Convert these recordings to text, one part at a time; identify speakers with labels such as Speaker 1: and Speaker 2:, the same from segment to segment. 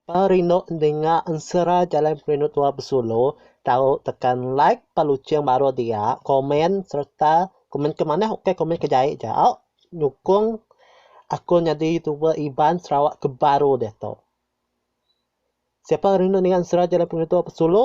Speaker 1: Pa rindu endinga ensera jalai perindu tua besulu tau tekan like pa luching baru dia komen sereta komen ke manah ukai komen ke jai jao nyukong aku nyadi youtuber Iban Sarawak ke baru diatu. Siapa rindu ninga ensera jalai perindu tua besulu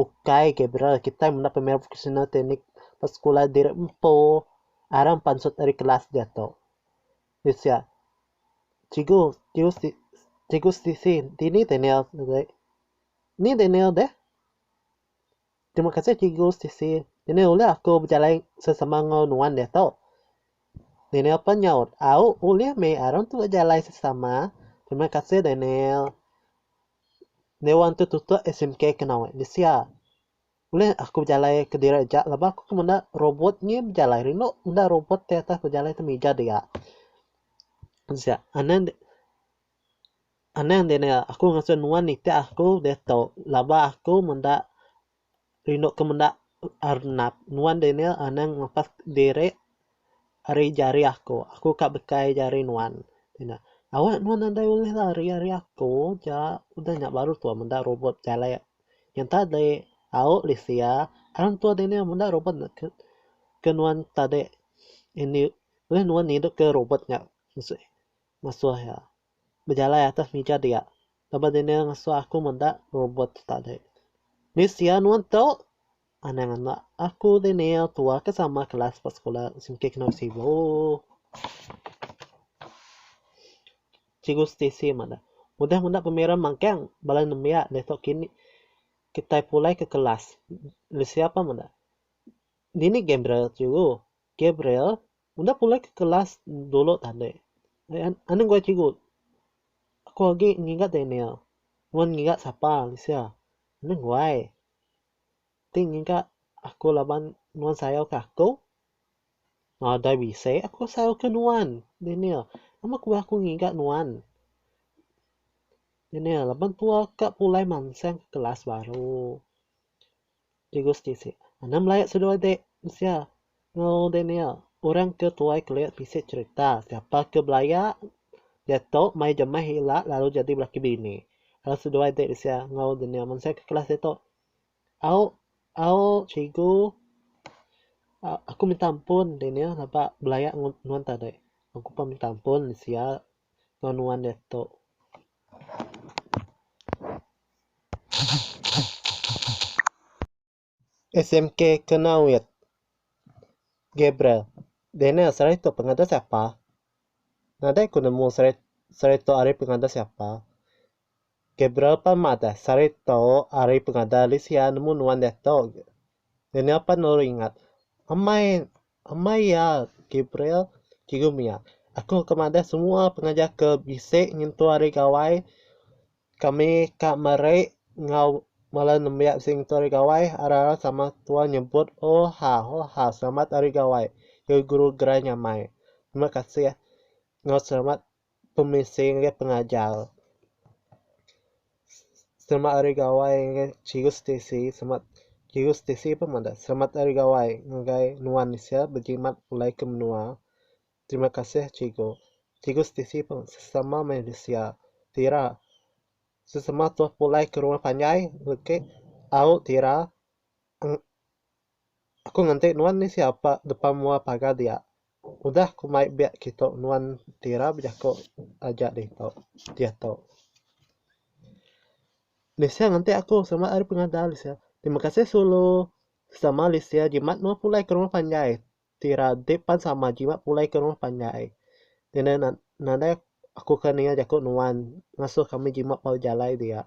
Speaker 1: Ukai Gabriel, kitai menda pemain profesional tenis ba sekula diri empu aram pansut ari kelas diatu. Di sia, Cikgu, cikgu si, cikgu sisi, dini Daniel deh? Ni Daniel deh? Terima kasih cikgu sisi, Daniel ulih aku bejalai sesama enggau nuan diatu? Daniel pen nyaut, Au, ulih meh aram tu bejalai sesama. Terima kasih Daniel. Dewan tu tutup SMK kena weh disia. Ulih aku bejalai kediri aja laban aku ke menda robot ngi bejalai rindu menda robot ti atas bejalai temija dia. Disia anang anang dia nengah aku ngasuh nuan nitih aku deh tu laban aku menda rindu ke menda arnap nuan Daniel anang ngelepas diri ari jari aku. Aku ka bekai jari nuan. Awak nuan nadai ulih lari ari aku ja udah nya baru tua meda robot jalai yang tadi. Au Lisia hang tua Daniel meda robot ke nuan tadi. Ulih nuan ngidup ke robot nya masu iya. Bejalai atas mija dia. Lebuh Daniel ngesu aku meda robot tadi. Ni sia nuan tu? Anang anak aku Daniel tua ke sama kelas ba sekula Singkih Kenoi Sibu. Cikgu Stacey madah. Udah meda pemira magang bala nembiak diatu kini. Kitai pulai ke kelas. Ni sia pah meda. Dini gai bira cikgu? Gabriel, enda pulai ke kelas dulu tadi. Anang gua cikgu. Aku agi ngiga Daniel. Nuan ngiga sapa Alicia? Anang guai. Ti ngiga aku laban nuan sayau ke aku? Nadai bisi aku sayau ke nuan, Daniel. Nama ku aku ngiga nuan? Daniel, laban tua ka pulai mansang ke kelas baru. Tugas tisi anang belaya seduai de mensia enggau de nia orang ke tuai kelia bisi cerita siapa ke belaya diatu mai jemah ila lalu jadi laki bini lalu seduai de mensia enggau de nia mensia ke kelas diatu au au cikgu aku minta ampun de nia aba belaya nuan tadi aku pun minta ampun mensia enggau nuan diatu. SMK kena wit. Gabriel, Daniel sehari tu pengada siapa? Nadai ku nemu sehari tu ari pengada siapa. Gabriel pan madah sari tu ari pengadah Lisia nemu nuan diatu. Daniel pan lalu ingat, Amai, amai iya, Gabriel, Cikgu mia, aku ngga madah semua pengajar ke bisi nyentuk ari gawai kami ka meri enggau bala nembiak bisi nyentuk ari gawai arai-arai sama tua nyebut Hoha, hoha, selamat ari gawai, ya guru gerai nyamai. Terima kasih enggau selamat pemisi ngagai pengajar. Selamat Hari Gawai ngagai Chirus Tisi selamat Chirus Tisi pun madah selamat Hari Gawai ngagai nuan sia bejimat pulai ke menua. Terima kasih Cikgu. Chirus Tisi pun sesama manusia tira sesama tuah pulai ke rumah panjai lukik au tira. Aku nganti nuan ni sia apa depa mua pagar dia. Udah ku mai biak kitu nuan ti ira bejaku aja ditu diatu. Lisia nganti aku selamat ari pengadal lisia. Terima kasih sulu. Sama lisia jimat nuan pulai ke rumah panjai. ti radik pan sama jimat pulai ke rumah panjai. Ngena na nadai aku ke ninga jaku nuan ngasuh kami jimat ba jalai dia.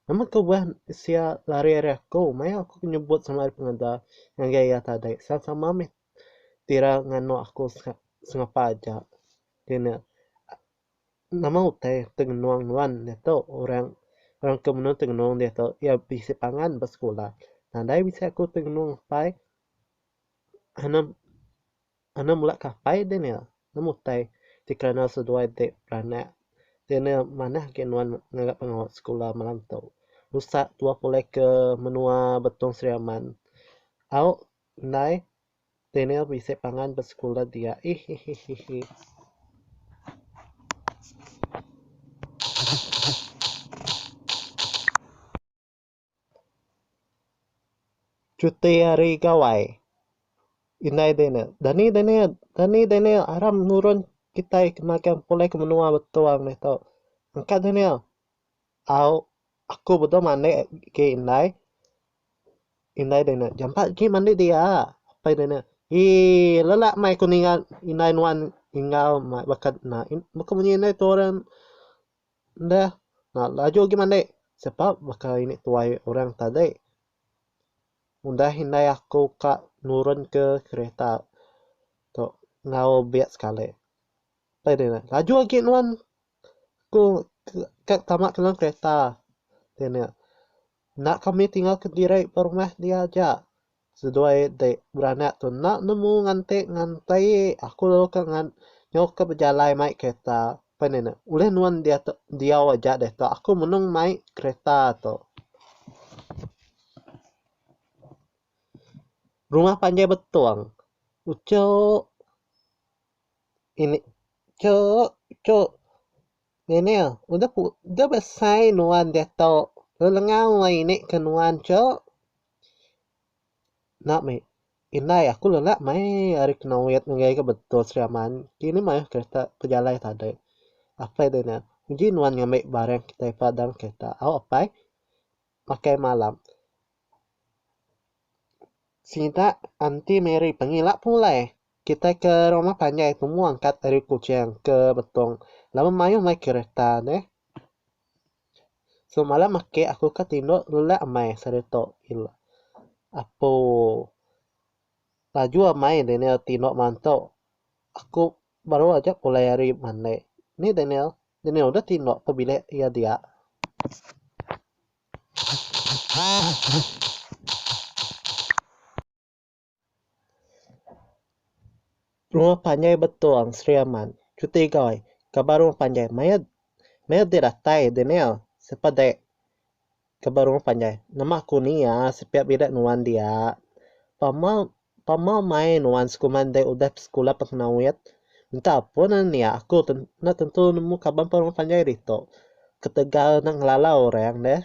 Speaker 1: Nama ke udah sia lari ari aku maya aku nyebut sama ari pengeda ngagai iya tadi sama sama mih tira nganu aku se sengapa aja. Ngena nama utai tengenung nuan diatu orang orang ke menu tengenung diatu iya bisi pangan ba sekula. Nadai bisi aku tengenung pai. Anu mula kapai deh nya nemu utai ti kernel seduai ti beranak deh nya manah agi nuan ngaga pengawa sekula malam tu usak dua pulai ke menua Betong Sri Aman au ndai deh nya bisi pangan ba sekula dia ihihihi. Cuti hari gawai. Indai Daniel. Dani Daniel. Dani Daniel. Aram nurun kitai ke magang pulai ke menua Betong nih tu. Engka Daniel. Au, aku bedau mandek agi indai. Indai Daniel. Jampat agi mandi dia. Apai Daniel. Eii, lelak meh aku ninga indai nuan enggau baka ina. Baka munyi indai tu orang. Enda enda laju agi mandi sebab baka ini tuai orang tadi udah indai aku ka nurun ke kereta tu enggau bia sekali. Pai deh nya laju agi nuan ku ka tama dalam kereta. Nya enda kami tinggal kediri ba rumah dia aja. Seduai ti beranak tu enda nemu nganti nganti aku lalu ka ngan nyau ka bejalai mai kereta pen nya ne ulih nuan diatu diau aja diatu aku menung mai kereta tu. Rumah panjai betong uchup ini chup chup Daniel udah pu udah besai nuan diatu lelengau angai ini ke nuan chup. Enda meh. Indai aku lelak mai ari kena wet ngagai ga betul Sri Aman. Ti nih mayuh kereta pejalai tade. Apai de nya, uji nuan ngambi barang kitai pa dalam kereta au apai. Makai malam. Sida anti Mary pengila pulai. Kitai ke rumah panjai tu mung angkat ari Kuching ke Betong laban mayuh mai kereta neh. Semalam ake aku ka tindok lelak amai sereta ila apo laju amai Daniel tindok manto aku baru aja pulai ari mandai ni Daniel Daniel udah tindok ke bilik iya dia. Rumah panjai betung Sri Aman. Cuti goi ka ba rumah panjai maya maya deh datai deh nil sapa deh ka ba rumah panjai nama ku ni iya sepiak bilik nuan dia pama pama mai nuan sekuman deh udah besekula pekena wit minta ampun lalu nia aku tu enda tentu nemu kaban pa rumah panjai ditu ketegal nang ngelala orang deh.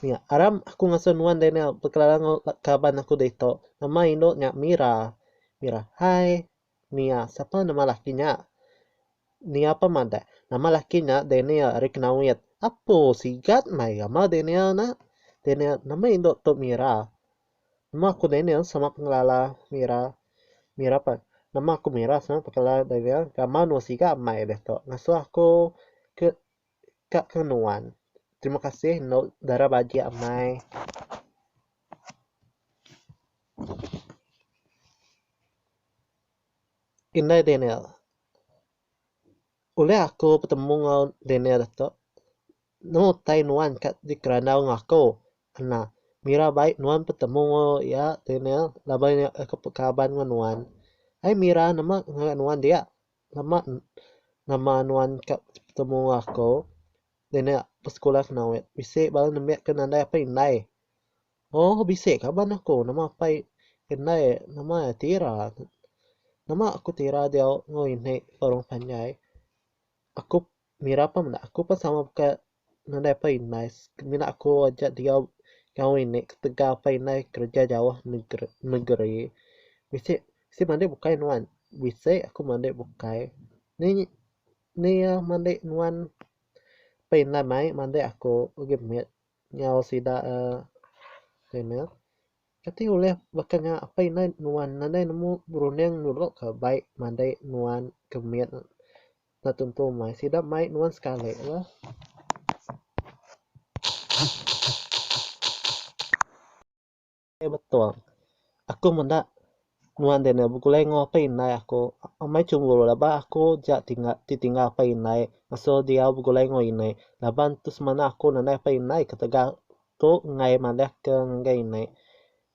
Speaker 1: Nya aram aku ngasuh nuan Daniel bekelara enggau kaban aku ditu nama indu nya Mira. Mira, hai Nia sapa nama laki nya? Nia pun madah, nama laki nya Daniel ari Knaoit. Apo sigat meh iya mah Daniel nya. Daniel, nama indu tu Mira. Nama aku Daniel sama pengelala Mira. Mira pun, nama aku Mira sama pengelala Daniel. Gamal nuan sigat meh ditu ngasuh aku ke. ka ke nuan. Terima kasih endo dara bagi amai. Indai Daniel. Ulih aku betemu enggau Daniel ato nemu utai nuan ka dikerandau enggau aku. Kena mira bai nuan betemu enggau iya Daniel laban iya pekaban enggau nuan. Ai mira nama ngagai nuan dia. Lama nama nuan ka betemu enggau aku dini besekula kena wek bisi bala nembiak ke nadai apai indai. Ohh bisi ka bala aku nama apai indai nama iya ti ira. Nama aku ti ira diau enggau ini ke orang panjai aku. Mira pun meda aku pun sama baka nadai pa indai mina aku aja diau enggau ini ketegal pa indai kerja jauh negeri bisi bisi madik bukai nuan bisi aku madik bukai ni ni iya madik nuan pa indai mai madik aku agi mit enggau sida uhh Kati ulih baka nya apai indai nuan nadai nemu berunding nulok ka bai madai nuan ke mit enda tentu mai sida mai nuan sekali la. Betul aku meda. Nuan Daniel begulai enggau apai indai aku. Amai chunguru laban aku ja ti ditinggal apai indai ngasuh diau begulai enggau ini. Laban tu semina aku nadai apai indai ketegal tu enggai madahka ngagai ini.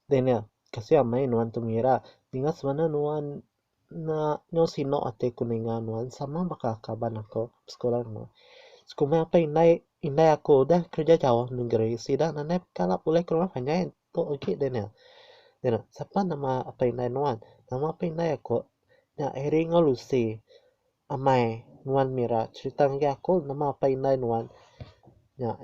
Speaker 1: Daniel, Kasih amai nuan tu ngira. Ninga semina nuan enda nyau sinu ati aku ninga nuan sama baka kaban aku besekula enggau nuan. Sekuma apai indai aku udah kerja jauh negeri sida nadai kala pulih ke rumah panjai. Tu agi Daniel. Daniel, sapa nama apai indai nuan? Nama apai indai aku nya Harry enggau Lucy. Amai nuan mira cherita ngagai aku nama apai indai nuan nya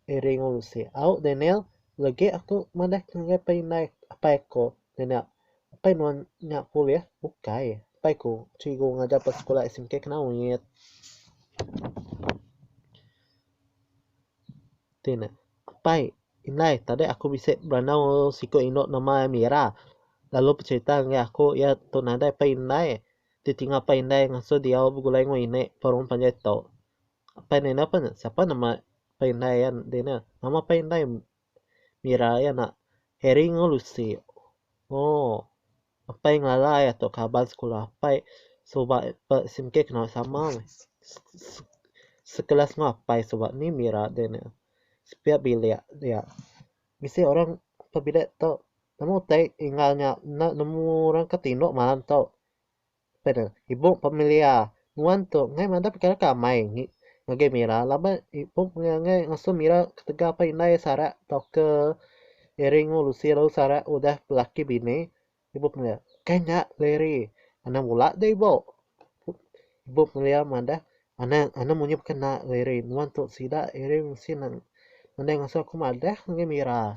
Speaker 1: Harry enggau Lucy. Au Daniel, legi aku madah ke ngagai apai indai apai aku. Daniel, apai nuan nya polis? Ukai, apai ku cikgu ngajar ba sekolah SMK Kenawit. Ti ne, Apai, indai tadi aku bisi berandau enggau siku indu nama iya Mira lalu becerita ngagai aku iya tu nadai pai indai ti tinga pai indai ngasuh diau begulai enggau ini perum panjai tu. Apai ne enda pen sapa nama pai indai iya di ne. Nama pai indai Mira iya nak Harry enggau Lucy. Ooh. Apai ngalai ato kaban sekula apai suba sim kieh kena sama meh sekelas enggau apai suba ni mira deh ne sepiak bilik dia bisi orang ke bilik tu nemu utai tinggal nya enda nemu orang ke tindok malam tu. Peda, Ibup Pemilia, nuan tu enggai madah pekara ke amai ngi ngagai Mira laban ibup mega enggai ngasuh Mira ketegal apai indai Sarak tauka Eri enggau Lucy lalu Sarak udah belaki bini. Ibup Pemilia, Kai nya le Eri, anang bula deh ibup. Ibup Pemilia madah, Anang anang munyi baka enda le Eri, nuan tu sida Eri mesti nang nadai ngasuh aku madah ngagai Mira.